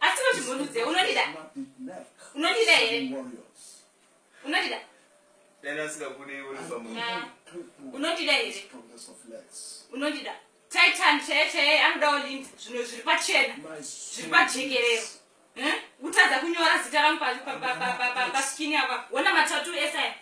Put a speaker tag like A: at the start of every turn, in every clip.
A: asi vachimhundudze unodida unodida here unodida
B: dani asingakudei uri pamunhu ah. unodida
A: here unodida titan chaiye chaiye anodawo lindi zvino zviri pachena zviri pajekerero kutadza kunyora zita rangu paskini apa wona matatu ese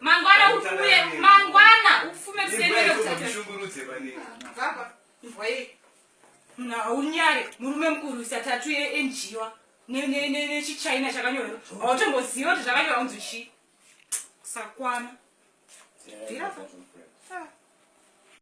B: mangwana
A: ufume mangwana ufume kusenderoshungurudze panei baba ndwaye munhu haunyare murume mukuru isatatu enjiwa nechichina chakanyorwa hautomboziva kuti zvakanyorwa kunzi chii kusakwana